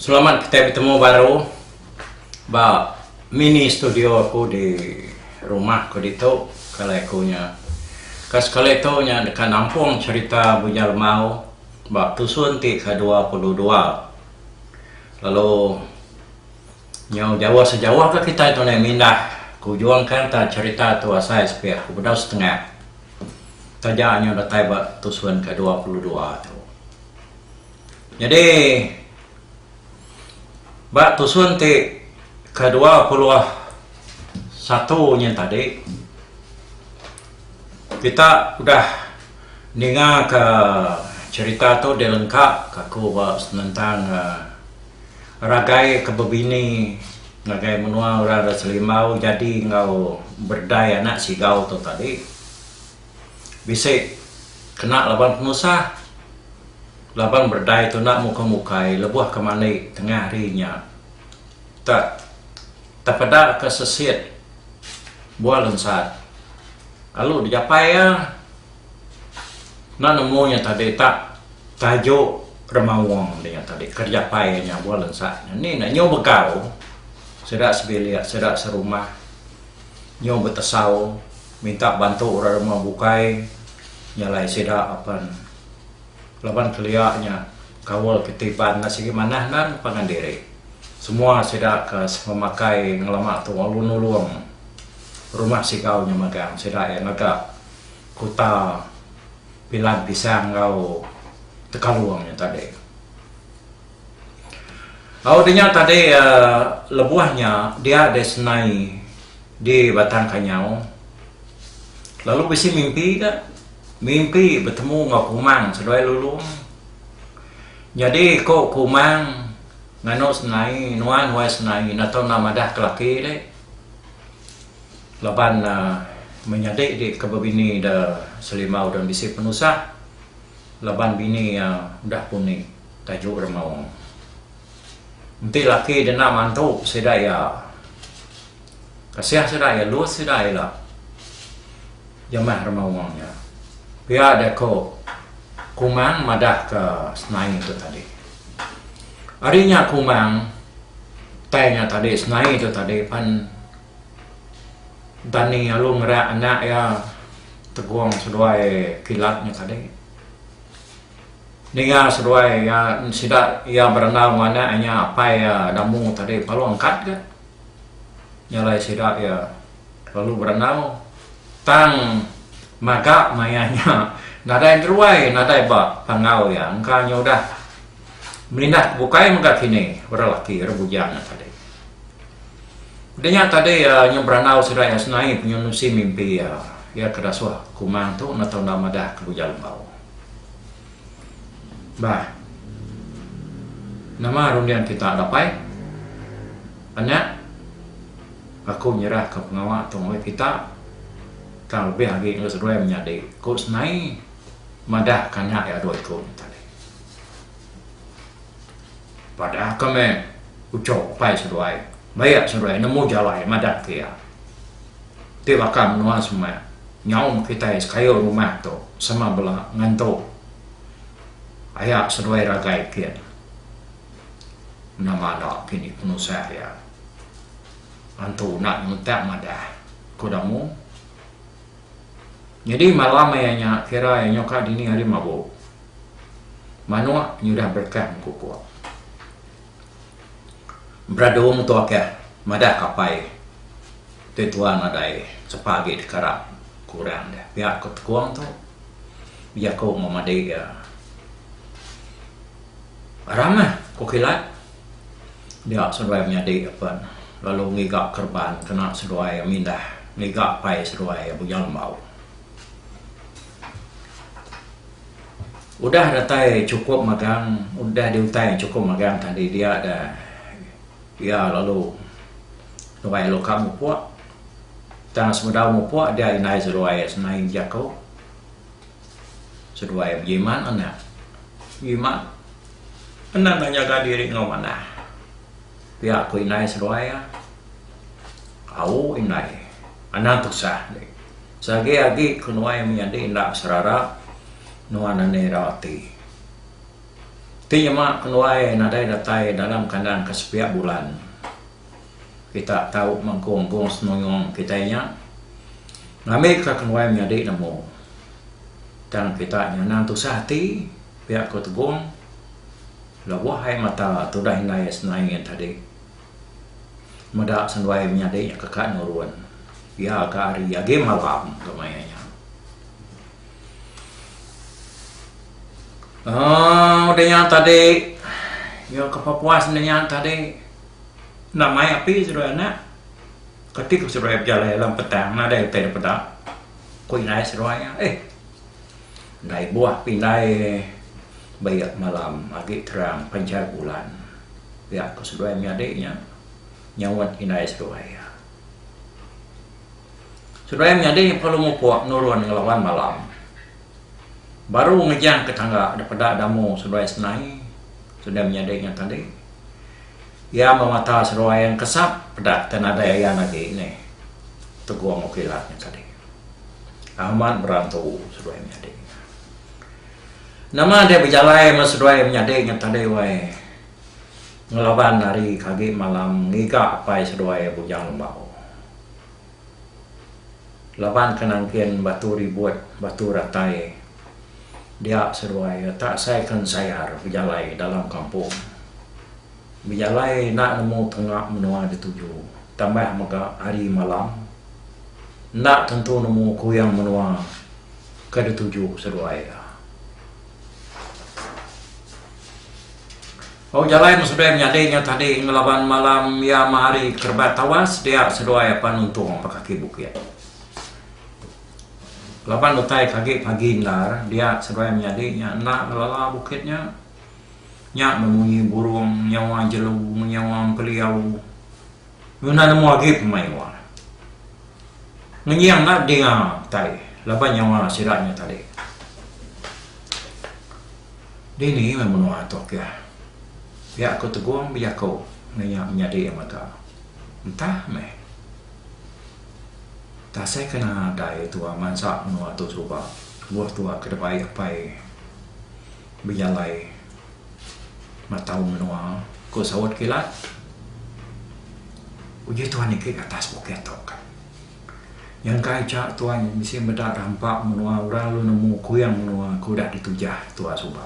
Selamat kitai betemu baru ba mini studio aku di rumah ku ditu ke alai aku nya. Ka sekali tu nya deka nampung cherita Bujang Lemau. Ba tusun ti kedua puluh dua lalu nyau jauh sejauh ke kitai tu neh mindah ke ujung ke enta cherita tu asai sepih ke bedau setengah taja nyau datai ba tusun ke dua puluh dua tu. Nyadi ba tusun ti ke dua puluh satu nyen tadi kita udah Ninga ka cerita tu deh lengka ka aku ba senentang ragai ke bebini ngagai menua orang da selimbau jadi enggau berdai anak sigau tu tadi bisi kena laban penusah laban berdai tu enda muka mukai lebuh ke mandi tengah hari nya tak tepeda ka sesit buah lensat. Lalu dijapai iya, enda nemu nya tadi tak tajuk remaung di nya tadi ke dijapai iya nya buah lensa nya ni enda nyu begau sida sebilik sida serumah nyu betesau minta bantu orang rumah bukai nyalai sida apan. Laban kelia nya, kaul ke ti pan enda sigi manah nan pangan diri. Semua sida ke sememakai ngelama tu lalu nulung rumah sigau nya magang sida iya ngaga kuta Pilan Pisang enggau Tekalong nya tadi. Au de nya tadi lebuh nya dia deh senai di batang kanyau lalu bisi mimpi ga mimpi betemu enggau kumang seduai lulong nyadi ko kumang nganu senai nuan nuai senai ina tau enda madah ke laki de laban menyadi di ke bini de selimau dan bisi penusah laban bini udah puni. Tajuk renung. Enti laki denda mantu sida iya kasih sida iya lus sida ila jemah renung nya. Pia jaku Kumang madahka senai tu tadi. Ari nya Kumang utai nya tadi senai tu tadi pan Dani alu ngera anak iya tegong seduai kilat nya tadi. Ninga seduai iya sida iya berandau enggau anak inya apai iya Damu tadi palu angkat ga nyalai sida iya lalu berandau tang maga maya nya nadai deruai nadai ba panggau iya engka nya udah melindah bukai mega kini orang laki orang bujang nya tadi. Udah nya tadi nya berandau sida iya senai penyunsui mimpi iya iya ke dasuh kumang tu enda tau enda madah ke Uja Lembau. Bah. Nama runding kita dapai? Anya, aku nyerahka pengawa tu ngagai kita, tang lebih agi ngagai seduai menyadi, ku Snai madah kanya iya dua iku nya tadi. Padahka meh uco upai seduai, bayak seduai nemu jalai madahka iya. Ti baka menua semak, Nyaum kitai sekayu rumah tu sama bela ngentu aya seduai ragai kin nama da kini penusah iya antu enda nguntak madah ku Damu nyadi malam iya nya kira iya nyuka dini hari mabu manuk nyudah berkah mengkukuk. Bradung tu aka madah kapai ti tuan nadai sepa agi dikarap ku orang deh. Pia ku tekong tu jaku meh madi iya ramah ku kilat dia seduai menyadi pen lalu ngiga kereban kena seduai mindah ngiga pai seduai bujang lembau. Udah datai chukup magang udah diutai chukup magang tadi dia da iya lalu nuai alu ka mupuk tang semedau mupuk dia indai seduai semain jaku seduai bejimat anak jimat anak enda nyaga diri enggau manah pia ku indai seduai iya au indai anang tusah. Sage agi ke nuai menyadi enda serara nuan ani rau ati. Ti nyema ke nuai nadai datai dalam kandang ke sepiak bulan. Kita tau mengkung gong senuyung kitai nya ngambika ke nuai menyadi nemu. Tang kita nya anang tusah ati pia ku Tegong lebuh ai mata tudah indai senaie tadi. Meda senduai menyadi nya keka nurun iya ke hari agi malam ke maya nya. Aaa udah nya tadi iya ke pepuas udah nya tadi enda mai api seduai anak keti ke seduai bejalai alam petang nadai utai dipeda ku indai seduai iya eh Ndai buah pindai beik malam agi terang panjai bulan pia ko seduai menyadi nya nyaunt indai seduai iya. Seduai menyadi nya perlu mupok nurun ngelaban malam baru ngejang ke tangga depeda damu seduai senai seduai menyadi nya tadi iya memata seduai yang kesap peda ke nadai ayan agi neh tegong kilat nya tadi. Amat berantu seduai menyadi nya. Nama deh bejalai meh seduai menyadi nya tadi wai. Ngelaban hari ke agi malam ngiga apai seduai Bujang Lembau. Laban ke nangkin batu ribut, batu ratai dia seduai retak sai ke ensayar bejalai dalam kampung. Bejalai enda nemu tunga menua dituju tambah mega hari malam enda tentu nemu kuyang menua ke dituju seduai iya. Bau jalai meh seduai menyadi nya tading laban malam iya meh hari kerebat tawas dia seduai apan nuntung ba kaki bukit. Laban utai ke agi pagi endar dia seduai menyadi nya enda ngelala bukit nya. Nya bemunyi burung nyawa jelu nyawa empeliau. Ngena nemu agi pemai wa. Ngenying enda dinga kitai laban nyawa sida nya tadi. Dini meh menua tu ke. Pia ku Tegong bejaku meh nya menyadi mega. Entah meh. Tasai ke nadai tua mansa menua tu suba. Buh tua ke debai apai. Bejalai matau menua, ku saut kila. Uji tuan niki ka atas bukit tu ka. Nyangka icha tuan bisi meda rampa menua orang lalu nemu kuing menua ke udah ditujah tuan suba.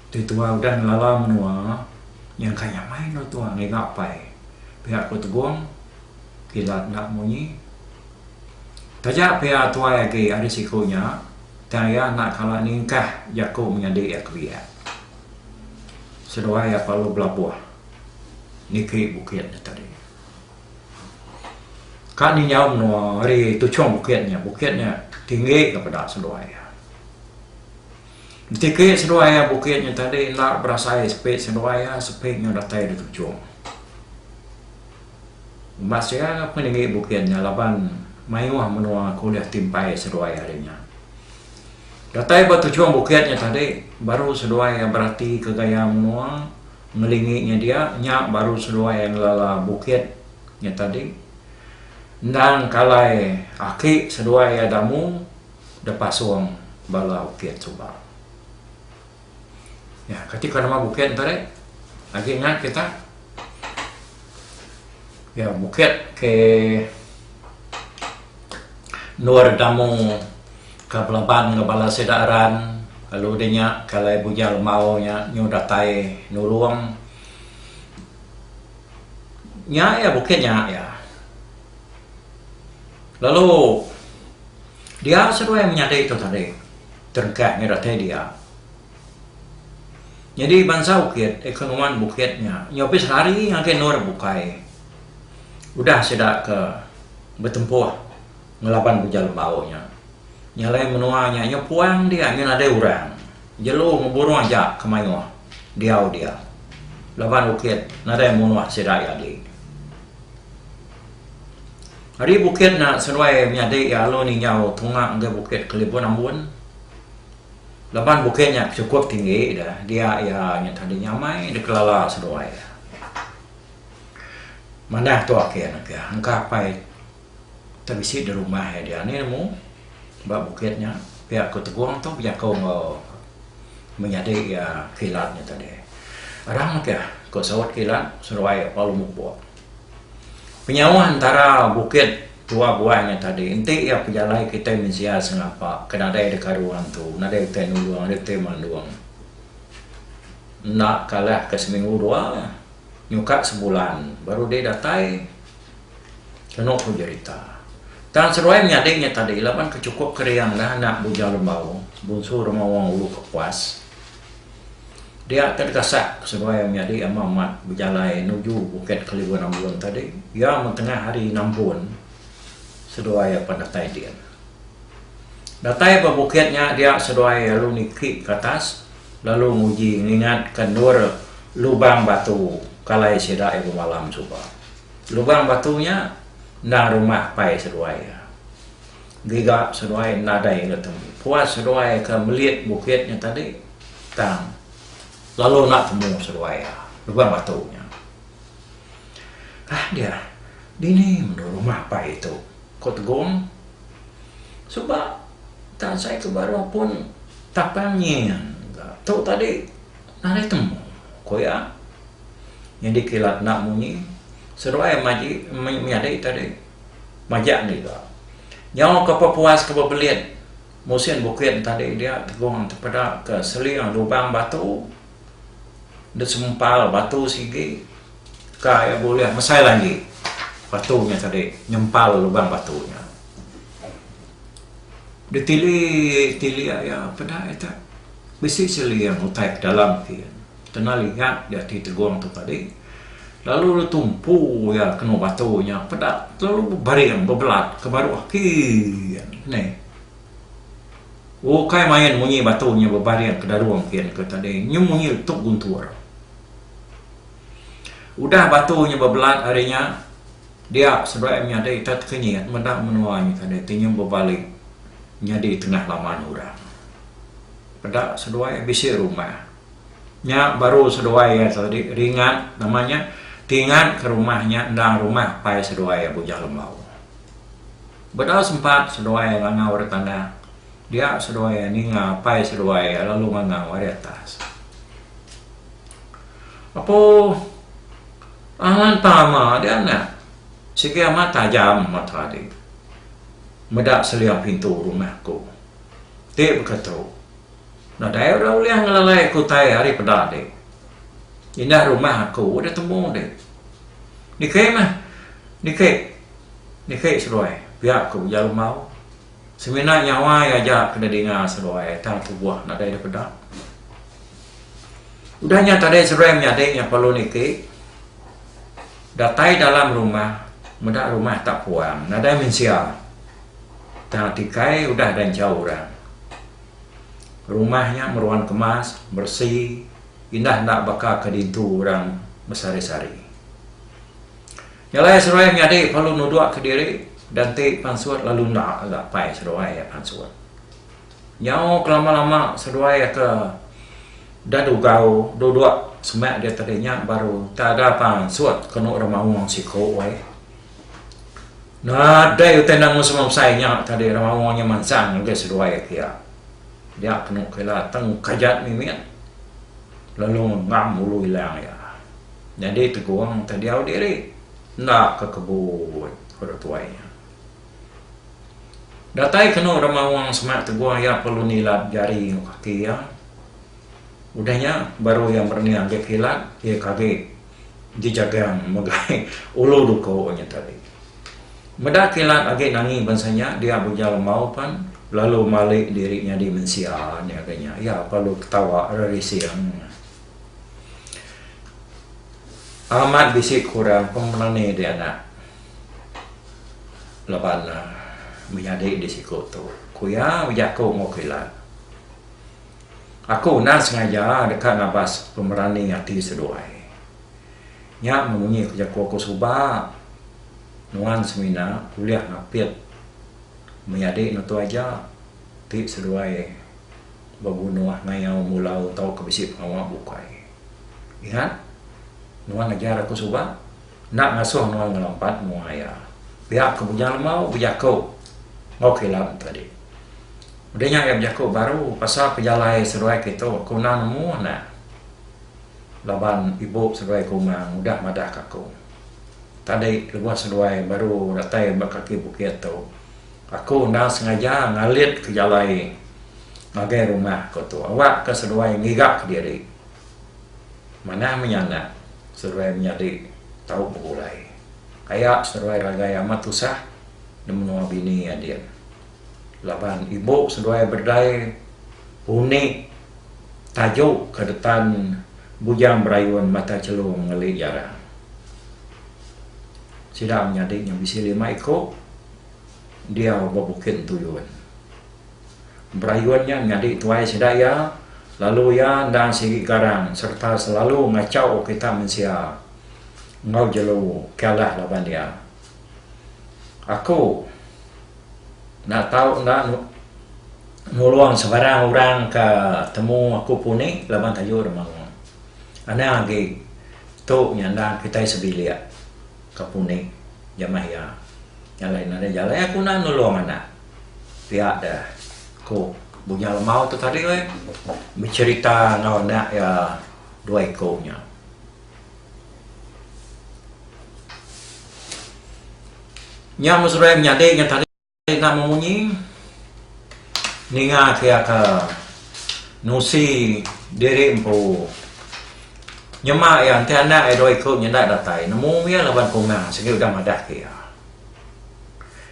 Ti tuan udah ngelala menua nyangka iya meh inu tuan ngiga apai pia ku Tegong kila enda munyi. Taja pia tuai agi ari siku nya. Tang iya enda kala ningkah jaku menyadi iya ke biak. Seduai iya kelalu belabuh niki bukit nya tadi. Ka ni nyau menua ari tuchung bukit nya, bukit nya tinggi ka peda seduai iya. Betiki seduai iya bukit nya tadi enda berasai sepi seduai iya, sepi nyau datai da tuchung. Masea ke nengeri bukit nya laban mayuh menua ke ulih timpai seduai ari nya. Datai ba tuchung bukit nya tadi baru seduai berati ke gaya menua ngelingi nya dia nya baru seduai ngelala bukit nya tadi endang kalai aki seduai iya damu depasung bala ukit suba. Nya kati pengawa bukit ento deh agi nya kita ya bukit ke endur damu ke belaban enggau bala sida ran lalu deh nya ke alai bujang lembau nya nyu datai nulung nya ya bukit nya ya lalu dia seduai menyadi ito tadi. Terengkat mih datai dia. Nyadi bansa bukit, ekonoman bukit nya nyobis lari ngagai endur bukai udah sida ke betempuh ngelaban Buja Lembau nya. Nya alai menua nya nyepung dia ngin nadai orang jelu ngeburuh aja ke mayuh diau dia laban bukit nadai munuh sida jadi. Ari bukit nya seduai menyadi iya alun injau tunga enggau bukit Kelibun Ambun. Laban bukit nya chukup tinggi da dia iya nya tadi nyamai dikelala seduai iya. Manah tu ake ne ke engka apai ti bisi di rumah iya diani nemu ba bukit nya pia ku Tegong tu bejaku enggau menyadi iya kilat nya tadi. Arang ke ku Saut Kilat seduai Palu Mupok. Penyawa entara bukit Tua Buai nya tadi enti iya pejalai kitai mensia sengapa ke nadai da karu antu, nadai utai nulung, nadai utai mandung. Enda kalah ke seminggu dua nyuka sebulan baru deh datai kenu ku jerita. Tang seduai menyadi nya tadi laban ke chukup keriang dah anak Bujau Lembau, bunsu rumah Wang Ulu Kepuas. Dia ke dekasak seduai nyadi ama amat bejalai nuju Bukit Kelibu Nambun tadi iya meh tengah hari Nambun seduai apan datai din. Datai ba bukit nya dia seduai lalu niki ke atas lalu nguji ngingat ke endur lubang batu kalai sida iya bemalam suba. Lubang batu nya enda rumah pai seduai iya. Giga seduai enda ada iya ke tembu. Puas seduai ke melit bukit nya tadi tang lalu enda temu seduai iya lubang batu nya. Kai dia, dini mendo rumah apai tu? ku Tegong. Suba tang sai ke baruh pun tapang nyin ga tu tadi nadai temu, ku iya. Nyadi kilat enda munyi seduai maji menyadi tadi. Majak ngiga. Nyau ke pepuas ke bebelit musin bukit entadi dia tegong tepeda ke seling lubang batu dek sempal batu sigi ka iya bulih mesai lanji batu nya tadi nyempal lubang batu nya. Ditili tili iya peda ita bisi seling utai ke dalam. Kena lingat dia ti tegong tu tadi, lalu dia tumpu iya kenu batu nya peda lalu bebaring bebelat ke baru aki neh. Ukai main munyi batu nya bebaring ke darung kin ke tadi nyu munyi tuk guntur. Udah batu nya bebelat ari nya dia seduai menyadi ita tekenyit meda menua nya tadi ti nyu bebali nyadi tengah laman orang. Peda seduai bisi rumah. Nya baru seduai iya tadi ringat nama nya tingat ke rumah nya enda rumah pai seduai iya Bujang Lembau. Bedau sempat seduai iya ngangau ari tanah dia seduai iya ninga pai seduai iya lalu ngangau ari atas. Apo angan tama dia anak sigi amat tajam meh tadi meda selia pintu rumah ku ti beketu. Nadai orang ulih ngelalai aku utai hari peda enti indah rumah aku udah temu enti. Niki meh niki niki seruai pia aku ujar Lemau semina nyawa iya aja ke nedinga seruai tang tubuh nadai deh peda. Udah nya tadi seruai menyadi nya perlu niki datai dalam rumah meda rumah tak puang nadai mensia tang tikai udah dianchau orang. Rumah nya meruan kemas, beresi, indah enda baka ke ditu orang besehari-sehari. Nyelai seduai menyadi perlu nudukka diri dan enti pansut lalu enda ga apai seduai iya pansut. Nyau kelama-lama seduai ke da dugau duduk semak diatu dinya baru taga pansut kenu ra maong siku weh. Nadai utai nanggu semua besai nya tadi orang maong nya mansang ngagai seduai iti iya. Dia kenu ke ila tang ukai jat mimit lalu ngam ulu ilang iya. Nyadi tegong tau diau diri enda ke kebut ku orang tuai nya. Datai kenu orang maong sema tegong iya perlu nilat jari enggau kaki iya. Udah nya baru iya merenih agi kilat iya ke agi. dijagang megai ulu duko nya tadi. Meda kilat agi nangi bansa nya dia bujal embau pan lalu mali diri nyadi mensia nya ke nya iya pa lu ketawa rerising. Amat bisi kurang pemerani di anak laban menyadi di siko tu ku iya bejaku enggau kilat. Aku enda sengaja deka ngabas pemerani ati seduai. Nya munyi ke jaku aku suba nuan semina ulih ngapit menyadi nutu aja ti seduai bebunuh ngayau mulau tauka bisi pengawa bukai. Ingat nuan ajar aku suba. Enda ngasuh nuan ngelampat mua iya. Pia ke Bujang Lemau bejaku enggau Kilan enti dik. Udah nya iya bejaku baru pasal pejalai seduai ke tu aku enda nemu anak laban ibu seduai ke uma udah madah ke aku. Tadi lebuh seduai baru datai ba kaki bukit tu aku enda sengaja ngalit ke jalai ngagai rumah, ku tu awak ke seduai ngiga ke diri. Manah mih anak seruai menyadi tau begulai. Kaya seruai ragai amat tusah di menua bini adin. Laban ibu seruai bedai undi taju ke detan bujang berayun mata chelu mengeli jarang. Sida menyadi nya bisi lima iku diau ba Bukit Entuyun. Berayun nya nyadi tuai sida iya, lalu iya endang sigi garang sereta selalu ngachau kita mensia enggau jelu kialah laban iya. Aku enda tau enda nulung sebarang orang ke temu aku puni laban tayu dema. Anang agi tu nya endang kitai sebilik. Kapunik, jamah iya. Jalai nadai jalai aku enda nulung anak. Pia deh, ku Bujang Lemau tu tadi weh, becherita enggau anak iya dua iko nya. Nya meserai menyadi nya tadi. Enda memunyi ninga ti aka nusi diri empu. Nyema iya enti anak iya dua iku nyenda datai nemu iya laban kunga sigi udah madah ke iya.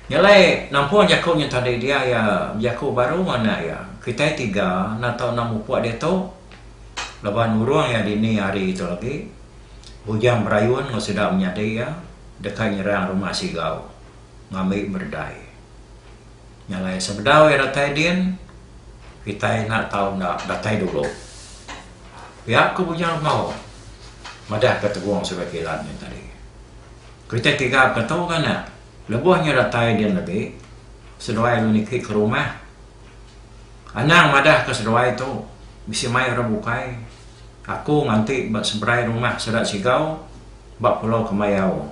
Nya alai nampung jaku nya tadi dia iya bejaku baru enggau anak iya. Kitai tiga enda tau enda mupuk diatu laban urung iya dini hari tu agi bujang berayun enggau sida menyadi iya deka nyerang rumah Sigau. ngambi meredai. Nya alai sebedau iya datai din, kitai enda tau enda datai dulu. Pia ku Bujang Rembau madahka Tegong Sri Kilan nya tadi. Kitai tiga pengetu nganak lebuh nya datai din agi, seduai lu niki ke rumah. Anang madahka seduai tu bisi mai orang bukai. Aku nganti ba seberai rumah Seda Sigau ba Pulau Kemayau.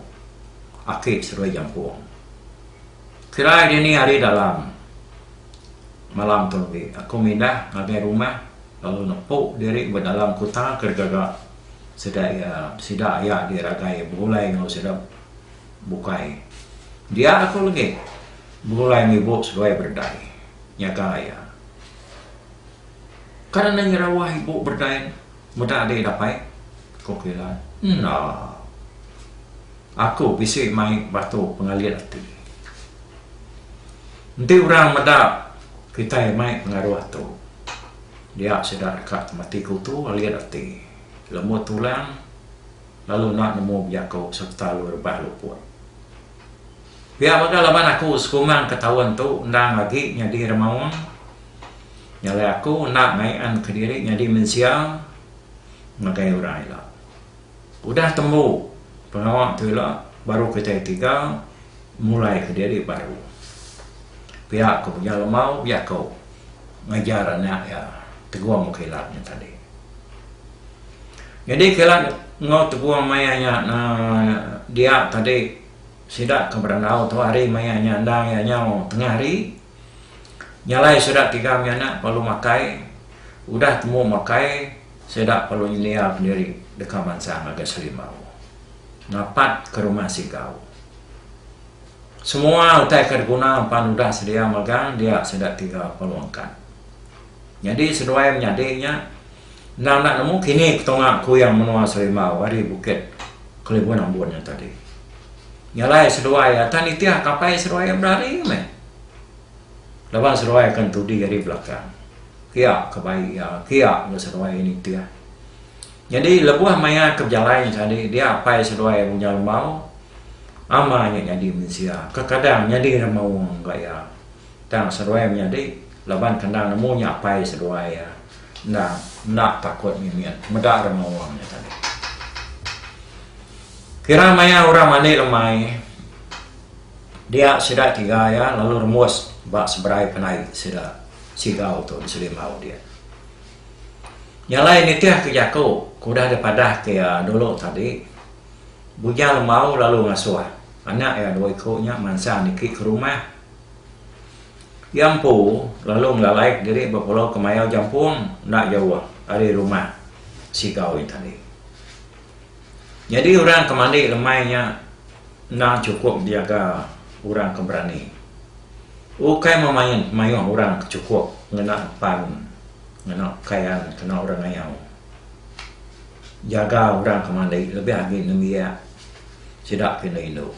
Akid Serui Jampung. Kirai dini ari dalam malam tu agi, aku mindah ngagai rumah lalu nepu diri ba dalam kuta ke digaga sida iya sida aya di ragai begulai enggau sida bukai. Dia aku legi begulai enggau ibu seduai berdai nyaga iya. Kan enda nyerawah ibu berdai. Mudah agi dapai, ku Pila. Enda. Aku bisi mai batu pengalit ati. Enti orang meda kitai mai pengaruh tu, dia sida deka temati kutu alit ati, lembut tulang lalu enda nemu bejaku sereta lu rebah luput. Pia mega laban aku sekumang ke taun tu endang agi nyadi remaung, nyalai aku enda ngaian kediri nyadi mensia ngagai orang ila. Udah tembu pengawa tu ila baru kitai tiga mulai kediri baru. Pia ku mega Lemau bejaku ngajar anak iya Tegong Kilat nya tadi. Nyadi kila enggau tepung maya nya dia tadi sida ke berandau tu hari maya nya enda iya nyau tengah hari nyalai sida tiga mih anak perlu makai udah tembu makai sida perlu nyelia pendiri deka bansa ngagai Serimbau napat ke rumah Sigau semua utai ke diguna pan udah sedia magang dia sida tiga perlu angkat. Nyadi seduai menyadi nya, endang enda nemu kini ketunga kuyang menua Serimbau ari Bukit Kelibun Ambun nya tadi. Nyalai seduai atan nitih kapai seduai iya berari meh. Laban seduai ke entudi ari belakang. Kia ke bai iya, kia ke seduai iya nitih. Nyadi lebuh maya ke bejalai nya tadi dia apai seduai Munya Lembau, ama nya nyadi mensia, kekadang nyadi remaung ga iya. Tang seduai menyadi laban kandang nemu nya apai seduai iya endang enda takut ngimin meda rema wang nya tadi. Kira maya orang mandi lemai dia sida tiga iya lalu rembus ba seberai penai sida Sigau tu di Selimbau dia. Nya alai nitih ke jaku ke udah di padah ke iya dulu tadi Bujang Lembau lalu ngasuh anak iya dua iku nya mansang niki ke rumah. Iya empu lalu ngelalaika diri ba pulau ke mayau Jampung enda jauh ari rumah Sigau iya tadi. Nyadi orang ke mandi lemai nya endang chukup diaga orang ke berani. Ukai meh main mayuh orang ke chukup ngena pan ngena pekaian kena orang ngayau. Jaga orang ke mandi lebih agi nembiak sida ke indu-indu.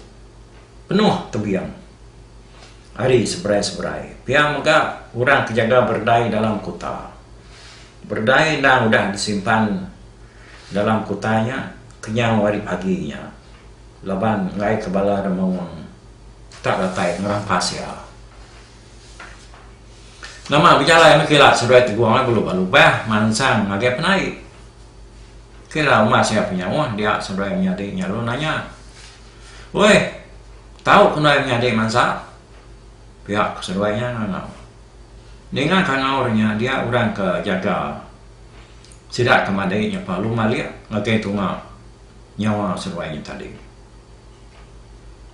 Penuh tebing ari seberai-seberai pia mega orang ke jaga beredai dalam kuta. Beredai endang udah disimpan dalam kuta nya kenyau ari pagi nya laban enggaika bala demung tak datai ngerampas iya. Nama bejalai meh kila seduai tegong belu ba lubah mansang ngagai penai. Kira umas iya penyawa dia seduai menyadi nyalun nanya. Oi, tau ke ndai menyadi mansa? pia ke seduai nya ngangau. Ninga ke ngau ri nya dia orang ke jaga sida ke madi nyepa long alik ngagai tunga nyawa seduai nya tadi.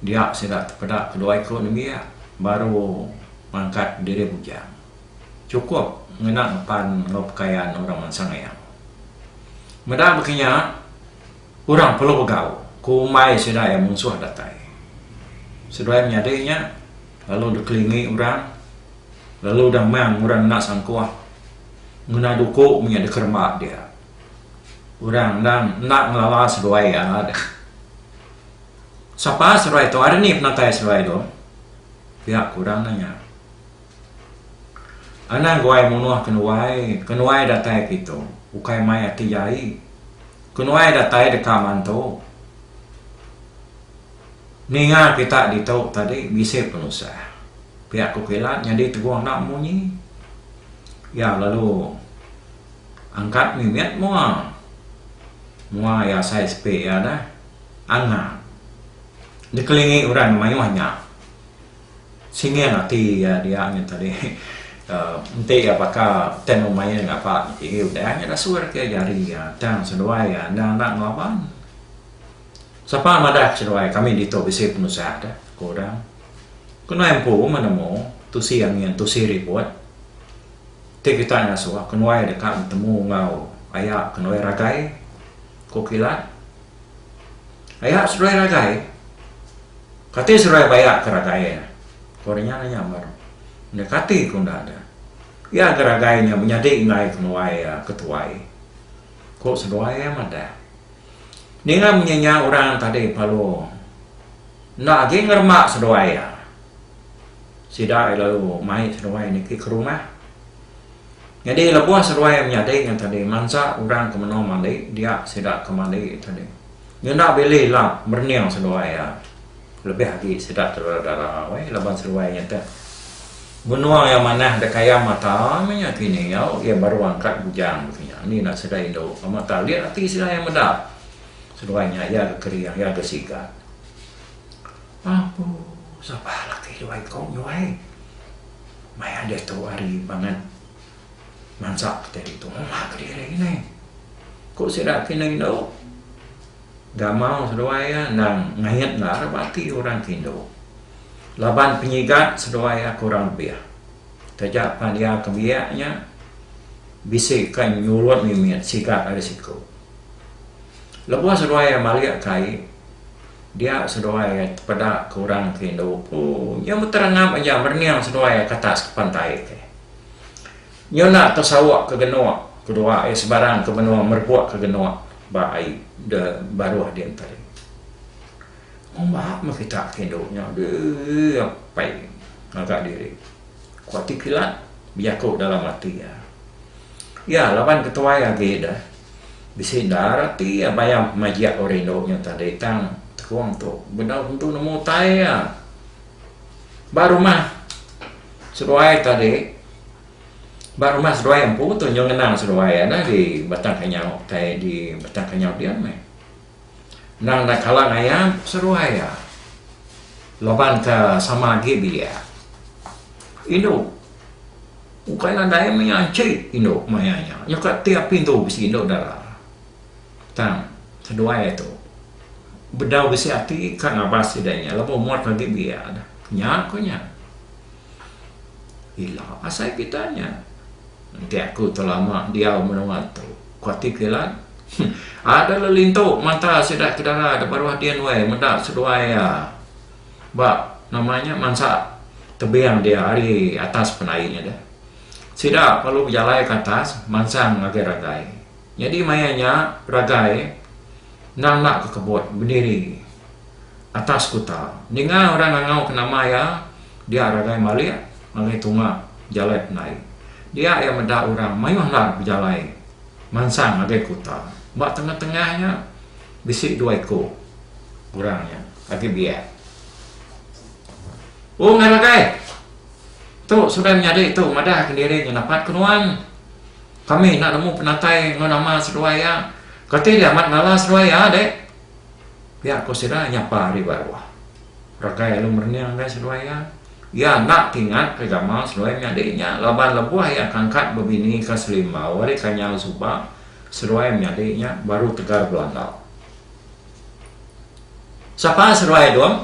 Dia sida tepeda keduai ku nembiak baru mangkat diri bujang chukup ngena ngepan enggau pekayan orang mansang iya. Meda baka nya, Orang perlu begau ku umbai sida iya munsuh datai. Seduai menyadi nya, lalu dikelingi orang, lalu damang orang enda sangkuh ngena duku menya dikeremba dia. Orang endang enda ngelala seduai iya deh. Sapa seduai tu ari ni penatai seduai tu? Pia ku orang nanya. Anang guai munoh ke nuai, ke nuai datai ke itu, ukai mai ati jai. Ke nuai datai deka mantu. Ninga kita ditu tadi bisi penusah. Pia ku kilat nyadi teguh enda munyi. Iya lalu angkat mimit mua. Mua iya asai sepi iya dah. Angat. Dikelingi orang mayuh nya. Singing ati iya dia nyin tadi. Enti iya baka tang mung mayuh ngapa niki agi udah nya dah suah reti jari iya tang seduai iya enda enda ngelaban. Sapa madah ke seduai kami ditu bisi penusah deh ku udang. Ke nuai empu menemu tusi angin tusi ribut ti kita ngasuh ke nuai deka betemu enggau aya ke nuai ragai ku kilat. Aya seruai ragai. Kati seruai bayak ke ragai iya? Ko nya nya nyambar. Enda kati ku enda ada. Iya ga ragai nya menyadi enggai kenuai iya ke tuai. Ko seduai iya madah. Ninga munyi nya orang tadi palu enda agi ngeremba seduai iya. Sida lalu mai seduai niki ke rumah. Nyadi lebuh seduai menyadi nya tadi mansa orang ke menung mali dia sida ke mali tadi ngena bili ila merening seduai iya lebih agi sida ti dara-dara weh laban seduai nya tu menung iya manah da kaya mata meh nya kini nyau iya baru angkat bujang baka nya indi enda sida indu sama ta lit ati sida iya meda seduai nya iya ga kering iya ga sigat. Abu sabah laki luai kong nyuai maya diatu ari bangat mansa kitai ditu uma kediri nginai. Ku sida kining indu, Gamau seduai iya endang ngait ngarap ati orang ke indu laban penyigat seduai iya kurang lebih. Taja pan iya ke biak nya bisi ka nyulut mimit sigat ari siku. Lebuh seduai iya malikka ai, Dia seduai ai tepeda ke orang ti indu ku nyu beterangap aja berening seduai ai kata sekepan taib ke. Nyu enda tesauk ke genuk ke dua ai sebarang ke menua merebuk ke genuk ba ai de baruh di enteri. Ngumba meh kita ke indu nya deh apai ngaga diri ku ati kilat bejaku dalam ati iya. Iya laban ketuai agi deh. Bisi endar ati iya bayam pemajik orang indu nya tadi tang tekung tu bedau tentu nemu utai iya. Ba rumah seduai tadi ba rumah seduai empu tu nyau ngenang seduai iya agi batang kenyau utai di batang kenyau diau meh. Endang enda kala ngayan seruai iya laban ka sama agi biak indu ukai nadai maya enchi indu maya nya nya ka ti api endu bisi indu dara tang seduai iya tu bedau bisi ati ka ngabas sida nya laban umur ka agi biak dah nya ku nya. Ila asai kitai nya. Enti aku telama diau menua tu, ku ati Kilan. Ada le lintu mata sida ke dara da baruh din weh meda seduai iya ba nama nya mansa tebing dia ari atas penai nya deh. Sida perlu bejalai ke atas mansang ngagai ragai. Nyadi maya nya Ragai endang enda ke kebut bediri atas skuta. Ninga orang ngangau ke nama iya, dia Ragai malik ngagai tunga jalai pendai. Dia iya meda orang mayuh endar bejalai mansang ngagai kuta. Ba tengah-tengah nya bisi dua iku orang nya agi biak. Oh ngah Ragai! Tu sundai menyadi tu madah ke diri nya napat ke nuan. Kami enda nemu penatai enggau nama seduai iya. Kati deh amat ngala seduai iya deh? Pia ku sida nyapa ari ba ruah. Rakai alu merening deh seduai iya. Iya enda ti ingatka gamal seduai menyadi nya laban lebuh iya ke angkat bebinika Selimbau ari Kanyau suba, seduai menyadi nya baru tegar belandau. Sapa seduai Dung?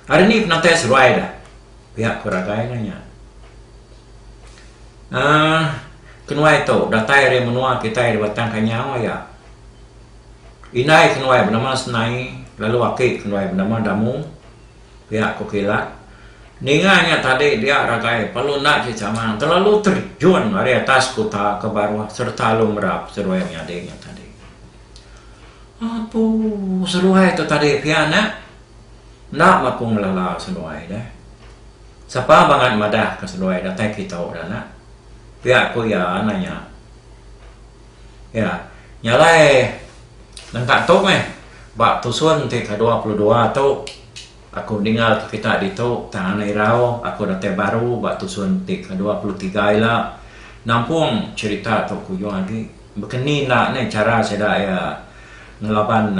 Ari ni penatai seduai deh? Pia ku ragai iya nya. Aaa kenuai tu datai ari menua kitai di Batang Kanyau aya indai kenuai benama Senai lalu aki kenuai benama Damu, pia ku kilat. Ninga nya tadi dia ragai perlu enda ti chamang terlalu terjun ari atas kuta ke baruh sereta alu merap seduai menyadi nya tadi. Apu seduai tu tadi pia nya. Enda maku ngelala seduai deh. Sapa bangat madah ka seduai datai kitu dah nak. Pia ku iya nanya. Iya nyalai nengka tu meh ba tusun ti ka dua puluh dua tu aku dinga ka kita ditu tang ana irau aku datai baru ba tusun ti ka dua puluh tiga ila nampung cherita tu kuyung agi. Bekeni enda neh chara sida iya ngelaban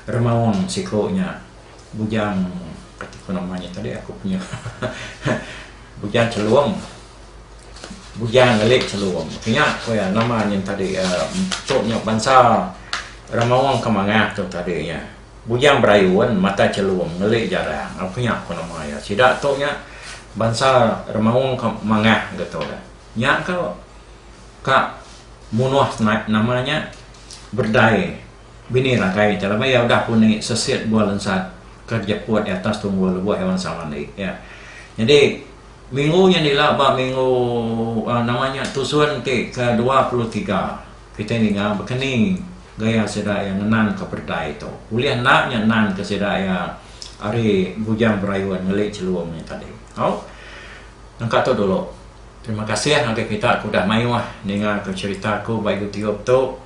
remaung siko nya Bujang kati ko nama nya tadi aku punya Bujang Chelum Bujang ngelik Chelum ke nya ko iya nama nya tadi tu nya bansa remaung ke mangah tu tadi nya Bujang Berayun Mata Chelum ngelik Jarang aku nya ko nama iya sida tu nya bansa remaung ke mangah ga tu nya ka. Ka munoh snap nama nya berdai bini rakai ti lama iya udah pun agi sesit bua lensat ke jeput di atas tunggul lebuh iya mansa mandi iya. Nyadi minggu nya ila ba minggu uhh nama nya tusun ti ke dua puluh tiga kitai ninga bekeni gaya sida iya ngenang ka berdai tu. Ulih enda nya nang ke sida iya ari Bujang Berayun ngeli Chelum nya tadi. Au. Nangka tu dulu. Terima kasih ngagai kita ke udah mayuh ninga ke cerita aku ba YouTube tu.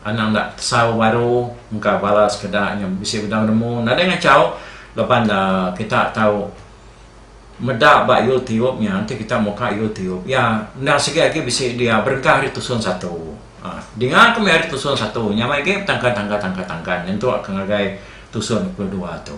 Anang enda pesau baru engka bala sekeda nya bisi bedau nemu nadai ngachau laban da kita tau meda ba YouTube nya enti kita muka YouTube iya endang sigi agi bisi dia berengkah ari tusun satu. Aaa dinga ke meh ari tusun satu nya meh agi betangkan tangkan tangkan tangkan nyentuk ke ngagai tusun ke dua tu.